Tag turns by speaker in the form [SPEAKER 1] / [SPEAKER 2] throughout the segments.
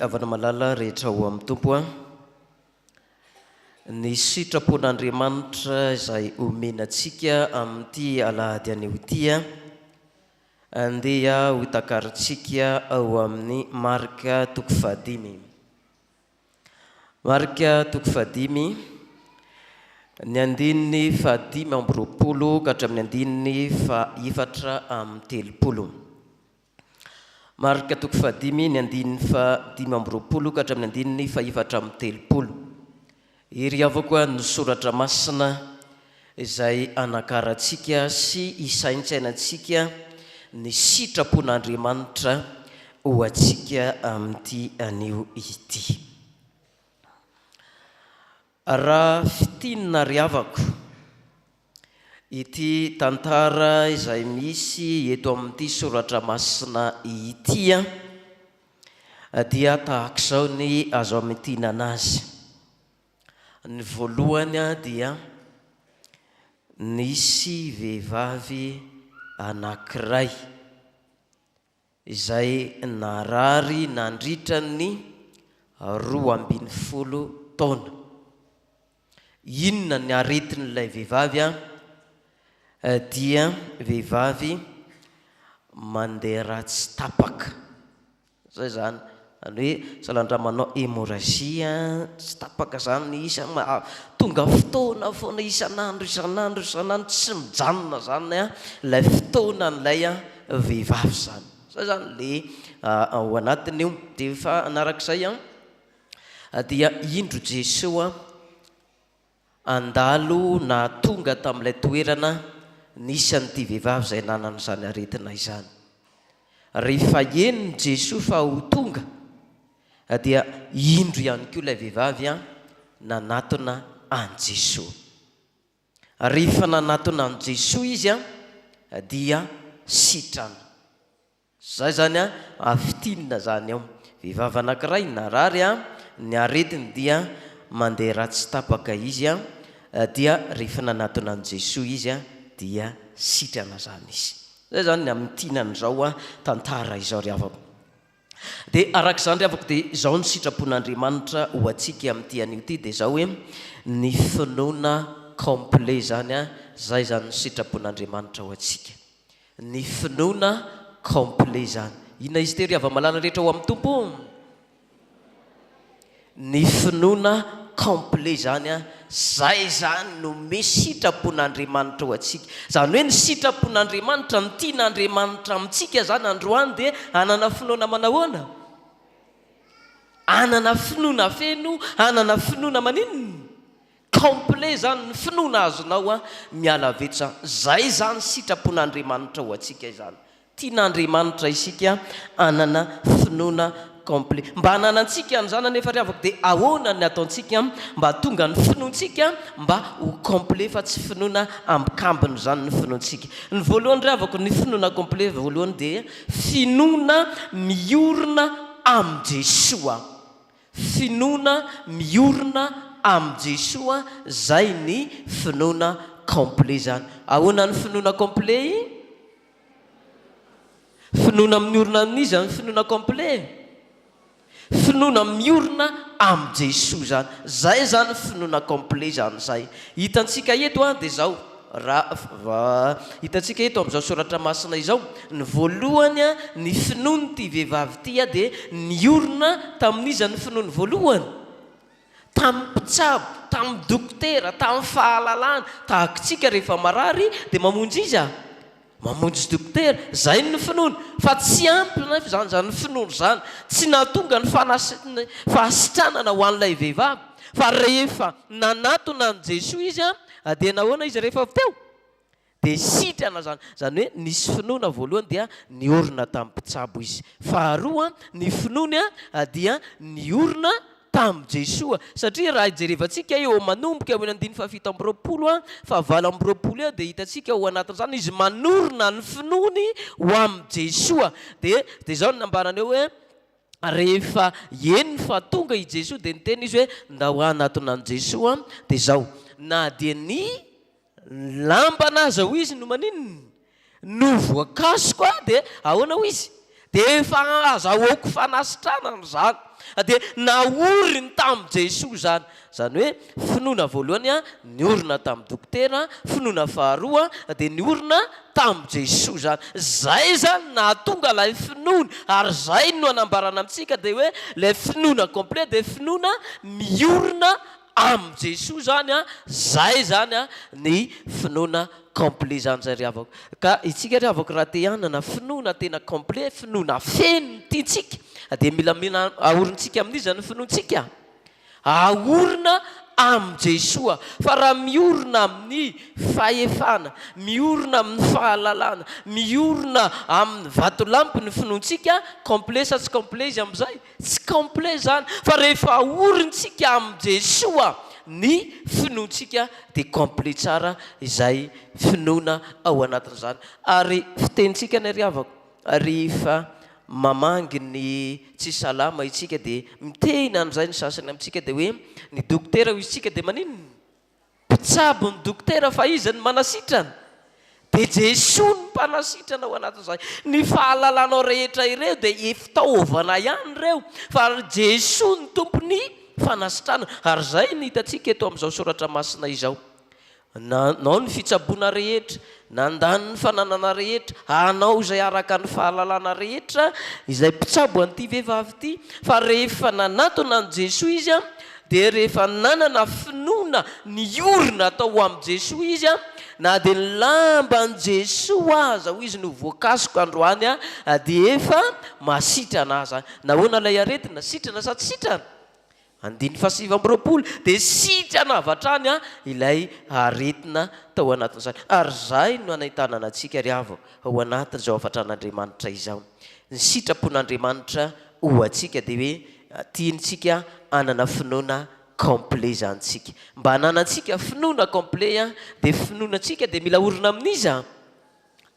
[SPEAKER 1] havana malala rehetra ao amin'ny tompo a ny sitrapon'andriamanitra izay omenantsika amin'ity alahady anio ity a andeha hotakarintsika ao amin'ny marika toko fahadimy Marc toko fahadimy, ny andininy fahadimy amby roapolo ka hatramin'ny andininy fahaefatra amby telopolo. Marc toko fahadimy, ny andininy fahadimy amby roapolo ka hatramin'ny andininy fahefatra amby telopolo. Hery avoko ny soratra masina. izay hanakarantsika sy hisaintsainantsika ny sitrapon'Andriamanitra ho antsika amin'ity anio ity. Raha fintinina ry havako, ity tantara izay misy eto amin'ity soratra masina ity dia tahak'izao ny azo amintinana azy. Ny voalohany dia nisy vehivavy anankiray izay narary nandritra ny roa ambin'ny folo taona. Inona ny aretin'ilay vehivavy an? Dia vehivavy mandeha ratsy tapaka. Zay zany zany hoe salandramanao hémorragie tsy tapaka zany isa tonga fotoana foana isan'andro isan'andro isan'andro tsy mijanona zany an lay fotoanan'ilay an vehivavy zany zay zany le ao anatiny io de fahanaraka izay an dia indro Jesoa Handalo na tonga tamin'ilay toerana nisy an'ity vehivavy izay nanana izany aretina izany. Rehefa henon'i Jesoa fa ho tonga, dia indro ihany koa ilay vehivavy nanatona an'i Jesoa. Rehefa nanatona an'i Jesoa izy dia sitrana. Zay zany an a fitinina zany ao. Vehivavy anakiray narary an ny aretiny dia mandeha ratsy tapaka izy an dia rehefa nanatona an'i Jesoa izy an dia sitrana zany izy. Zay zany ny amintinany zao an tantara izao ry havako. Dia araka izany ry havako dia zao ny sitrapon'Andriamanitra ho antsika amin'ity anio ity dia zao hoe ny finoana complet zany an zay zany ny sitrapon'Andriamanitra ho antsika. Ny finoana complet izany. Inona izy tery hava-malala rehetra ao amin'ny Tompo? Ny finoana complet izany an, izay izany no misy sitrapon'Andriamanitra ho antsika. Izany hoe ny sitrapon'Andriamanitra, ny tian'Andriamanitra amintsika izany androany dia hanana finoana manahoana? Hanana finoana feno, hanana finoana maninona? Complet zany ny finoana azonao an! Miala avy eto za. Zay zany sitrapon'Andriamanitra ho antsika izany. Tian'Andriamanitra isika hanana finoana complet. Mba hananantsika an'izany anefa ry havako dia ahoana ny ataontsika mba hatonga ny finoantsika mba ho complet fa tsy finoana ambikambiny izany ny finoantsika. Ny voalohany ry havako ny finoana complet voalohany dia finoana miorina amin'i Jesoa. Finoana miorina amin'i Jesoa zay ny finoana complet zany. Ahoana ny finoana complet e? Finoana miorina amin'iza ny finoana complet e? Finoana miorina amin'i Jesoa zany. Zay zany finoana complet zany zay. Hitantsika eto an dia zao. Raha hitantsika eto amin'izao soratra masina izao, ny voalohany, ny finoan'ity vehivavy ity dia niorina tamin'iza ny finoany voalohany? Tamin'ny mpitsabo, tamin'ny dokotera, tamin'ny fahalalana, tahaka isika rehefa marary dia mamonjy iza? Mamonjy dokotera, izay ny finoany, fa tsy ampy anefa izany, izany finoany izany, tsy nahatonga ny fanasin'ny fahasitranana ho an'ilay vehivavy, fa rehefa nanatona an'i Jesoa izy dia nahoana izy rehefa avy teo? dia sitrana izany, izany hoe nisy finoana voalohany dia niorina tamin'ny mpitsabo izy, faharoa ny finoany dia niorina tamin'i Jesoa. Satria raha jerevantsika eo manomboka eo amin'ny andininy fahafito amby roapolo fahavalo amby roapolo eo dia hitantsika ao anatin'izany izy manorina ny finoany ho amin'i Jesoa dia dia izao no nambarany eo hoe rehefa henony fa tonga i Jesoa dia niteny izy hoe ndao hanatona an'i Jesoa dia izao na dia ny Nilambana aza hoy izy no maninona? No voakasoka dia ahoana hoy izy? Dia efa azahoako fanasitranana izany. Dia naoriny tamin'i Jesoa izany. Izany hoe finoana voalohany niorina tamin'ny dokotera, finoana faharoa dia niorina tamin'i Jesoa izany. Izay izany no nahatonga ilay finoana ary izay no anambarana amintsika dia hoe ilay finoana complet dia finoana miorina Am Jesoa zany a zay zany a ny finoana complet zany zay ry havako ka itsika ry havako raha te hanana finoana tena complet finoana feno ny tiantsika dia mila mila aorintsika amin'iza ny finoantsika? aorina am Jesoa fa raha miorina amin'ny fahefana miorina amin'ny fahalalana miorina amin'ny vatolampy ny finoantsika complet sa tsy complet izy amzay? Tsy complet izany fa rehefa aorintsika amin'i Jesoa ny finoantsika dia complet tsara izay finoana ao anatin'izany. Ary fitenintsika ny ry havako, rehefa mamangy ny tsy salama isika dia miteny an'izay ny sasany amintsika dia hoe ny dokotera hoy isika dia maninona? Mpitsabo ny dokotera fa iza no manasitrana? Dia Jesoa no mpanasitrana ao anatin'izay. Ny fahalalanao rehetra ireo dia fitaovana ihany ireo fa Jesoa no tompon'ny fanasitranana. Ary izay no hitantsika eto amin'izao soratra masina izao. Nanao ny fitsaboana rehetra, Nandany ny fananana rehetra, hanao izay araka ny fahalalana rehetra izay mpitsabo an'ity vehivavy ity, fa rehefa nanatona an'i Jesoa izy, dia rehefa nanana finoana niorina tao amin'i Jesoa izy, na dia ny lamban'i Jesoa aza hoy izy no voakasoka androany dia efa masitrana aza. Nahoana ilay aretina? Sitrana sa tsy sitrana? Andininy fahasivy amby roapolo dia sitrana avy hatrany ilay aretina tao anatin'izany. Ary izay no hanentanana antsika ry havana ao anatin'izao hafatran'Andriamanitra izao. Ny sitrapon'Andriamanitra ho antsika dia hoe tiantsika hanana finoana complet izany isika. Mba hananantsika finoana complet dia finoana antsika dia mila orina amin'iza?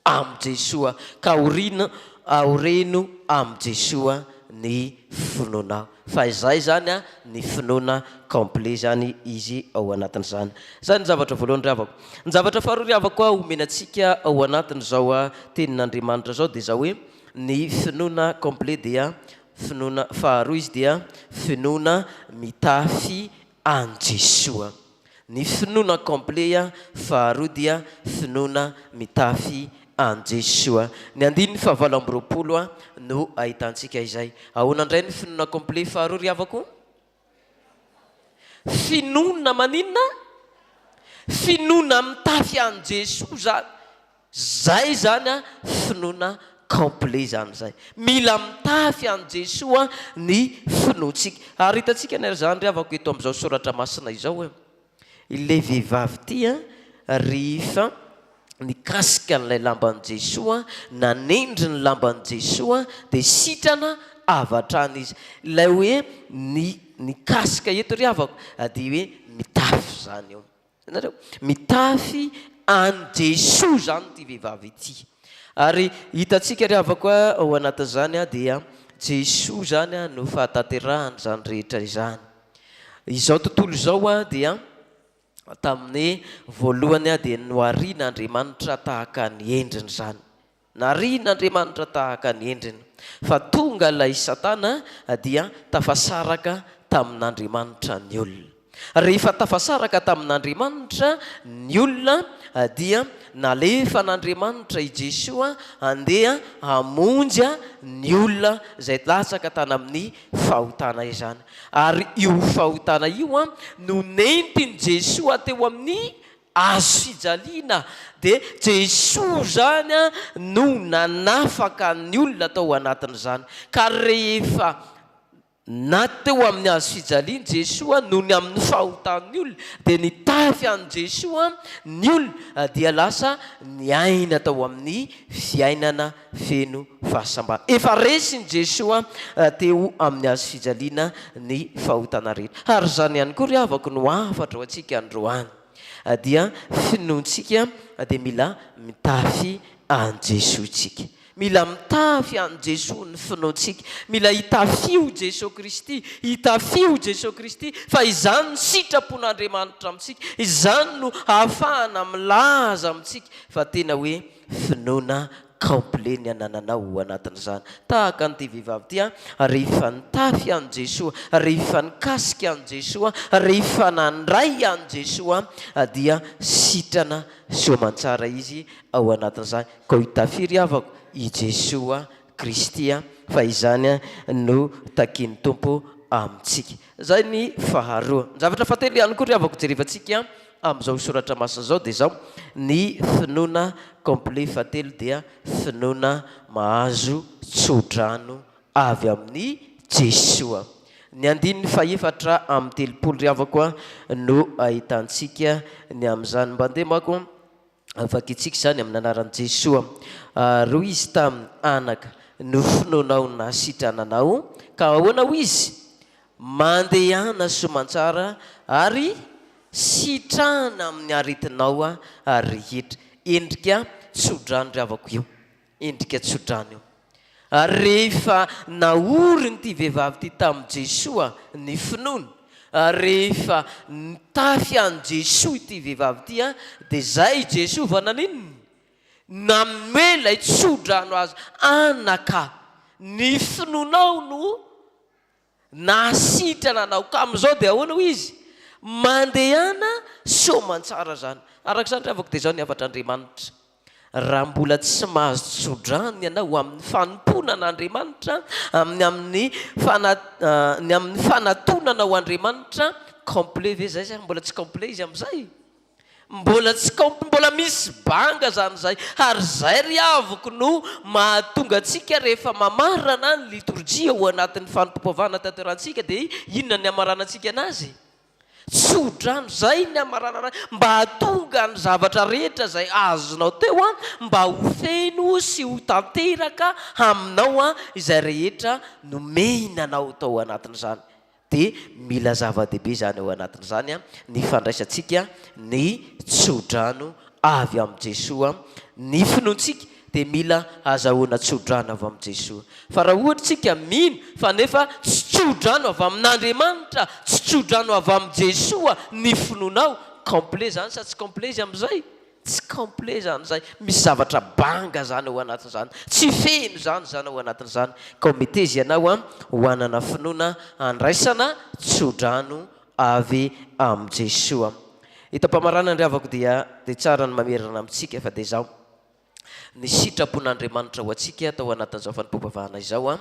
[SPEAKER 1] Amy Jesoa ka orina aoreno amy Jesoa ny finoanao fa izay zany a ny finoana complet zany izy ao anatin'izany. Zay ny zavatra voalohany ry havako. Ny zavatra faharoa ry havako a omena antsika ao anatin'izao a tenin'Andriamanitra zao dia zao hoe ny finoana complet dia finoana faharoa izy dia finoana mitafy Any Jesoa. Ny finoana complet faharoa dia finoana mitafy any Jesoa. Ny andininy fahavalo amby roapolo no ahitantsika izay. Ahoana indray ny finoana complet faharoa ry havako? Finoana maninona? Finoana mitafy any Jesoa izany. Zay zany an finoana complet zany zay. Mila mitafy an'i Jesoa ny finoantsika. Ary hitantsika anie ry zandry havako eto amin'izao soratra masina izao hoe, ilay vehivavy ity an, rehefa nikasika an'ilay lamban'i Jesoa, nanendry ny lamban'i Jesoa, dia sitrana avy hatrany izy. Ilay hoe ny nikasika eto ry havako dia hoe mitafy zany io. Hitanareo? Mitafy an'i Jesoa izany ity vehivavy ity. Ary hitantsika ry havako a, ao anatin'izany a, dia Jesoa izany a no fahatanterahana izany rehetra izany. Izao tontolo izao a, dia tamin'ny voalohany a, dia nohariana Andriamanitra tahaka ny endriny izany. Narian'Andriamanitra tahaka ny endriny, fa tonga ilay Satana dia tafasaraka tamin'Andriamanitra ny olona. Rehefa tafasaraka tamin'Andriamanitra ny olona dia nalefan'Andriamanitra i Jesoa handeha hamonjy ny olona izay latsaka tany amin'ny fahotana izany. Ary io fahotana io no nentin'i Jesoa teo amin'ny Azo fijaliana dia Jesoa izany no nanafaka ny olona tao anatin'izany. Ka rehefa na teo amin'ny hazo fijaliany Jesoa no ny amin'ny fahotan'ny olona dia nitafy an'i Jesoa ny olona dia lasa niaina tao amin'ny fiainana feno fahasambarana. Efa resin'i Jesoa teo amin'ny Hazo fijaliana ny fahotana rehetra. Ary izany ihany koa ry havako no hafatra ho antsika androany. Dia finoantsika dia mila mitafy an'i Jesoa isika. Mila mitafy an'i Jesoa ny finoantsika. Mila hitafiho Jesoa Kristy, hitafiho Jesoa Kristy fa izany no sitrapon'Andriamanitra amintsika, izany no hahafahana milaza amintsika fa tena hoe Finoana complet ny anananao ho anatin'izany. Tahaka an'ity vehivavy ity an, rehefa nitafy an'i Jesoa, rehefa nikasika an'i Jesoa, rehefa nandray an'i Jesoa dia sitrana soamantsara izy ao anatin'izany. Koa hitafiry havako i Jesoa Kristy fa izany no takian'ny Tompo amintsika. Izay ny faharoa. Ny zavatra fahatelo ihany koa ry havako jerevantsika amin'izao soratra masina izao dia izao, ny finoana complet fahatelo dia finoana mahazo tso-drano avy amin'i Jesoa. Ny andininy fahefatra amby telopolo ry havako no ahitantsika ny amin'izany. Mba ndeha mako Vakitsika izany amin'ny anaran'i Jesoa. Ary hoy izy taminy, Anaka, ny finoanao nahasitrana anao. Ka ahoana hoy izy? Mandehana soa aman-tsara ary sitrahana amin'ny aretinao rehetra. Endrika tso-drano ry havako io. Endrika tsodrano io. Ary rehefa naorin'ity vehivavy ity tamin'i Jesoa ny finoany, ary rehefa nitafy an'i Jesoa ity vehivavy ity, dia izay i Jesoa vao naninona? Nanome ilay tsodrano azy, Anaka, ny finoanao no. Nahasitrana anao ka amin'izao dia ahoana hoy izy? Mandehana soamantsara zany. Araka izany ry havako dia izao ny hafatr'Andriamanitra. Raha mbola tsy mahazo tsodrano ianao amin'ny fanompoana an'Andriamanitra, amin'ny amin'ny fana ny amin'ny fanatonanao Andriamanitra, complet ve izay sa mbola tsy complet izy amin'izay? Mbola tsy kaopy mbola misy banga zany zay ary zay ry havoko no mahatonga antsika rehefa mamarana ny litorjia ao anatin'ny fanompoam-pivavahana tanterantsika dia inona ny hamaranantsika anazy? tsodrano zay ny hamaranana mba hahatonga ny zavatra rehetra zay azonao teo an mba ho feno sy ho tanteraka aminao an izay rehetra nomehina anao tao anatin'izany dia mila zava-dehibe izany ao anatin'izany ny fandraisantsika ny tsodrano avy amin'i Jesoa, ny finoantsika dia mila hazahoana tsodrano avy amin'i Jesoa, fa raha ohatra isika mino fa nefa tsy tsodrano avy amin'Andriamanitra, tsy tsodrano avy amin'i Jesoa ny finoanao, complet izany sa tsy complet izy amin'izay? Tsy complet zany zay, misy zavatra banga zany ao anatin'izany, tsy feno zany zany ao anatin'izany ka ho meteza ianao ho hanana finoana handraisana tsodrano avy amin'i Jesoa. Hitam-pamaranana ry havako dia dia tsara ny mamerina amintsika fa dia izao, ny sitrapon'Andriamanitra ho antsika tao anatin'izao fanompoam-pivavahana izao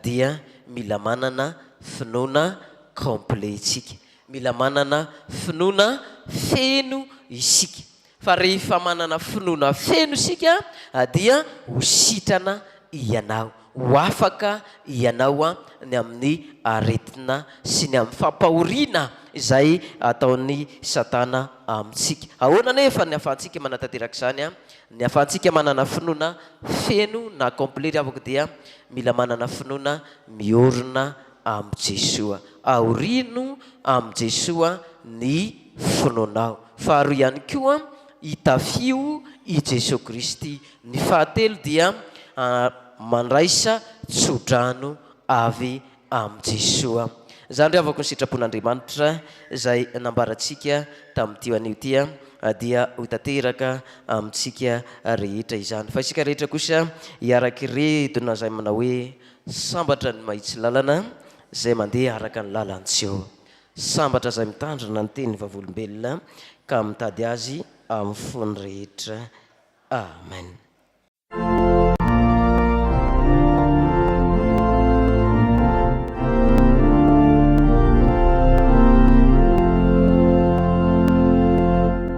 [SPEAKER 1] dia mila manana finoana complet isika. Mila manana finoana feno isika. Fa rehefa manana finoana feno isika dia ho sitrana ianao, ho afaka ianao ny amin'ny aretina sy ny amin'ny fampahoriana izay ataon'i Satana amintsika. Ahoana anefa ny ahafahantsika manatanteraka izany? Ny ahafahantsika manana finoana feno na complet ry havako dia mila manana finoana miorina amin'i Jesoa. Aorino amin'i Jesoa ny finoanao. Faharoa ihany koa, itafio i Jesoa Kristy. Ny fahatelo dia mandraisa tsodrano avy amin'i Jesoa. Izany ry havako ny sitrapon'Andriamanitra izay nambarantsika tamin'ity anio ity dia ho tanteraka amintsika rehetra izany. Fa isika rehetra kosa hiara-kiredona izay manao hoe, Sambatra ny mahitsy lalana, izay mandeha araka ny lalan-tseho. Sambatra izay mitandrina ny tenin'ny Vavolombelona ka mitady azy amin'ny fony rehetra. Amen.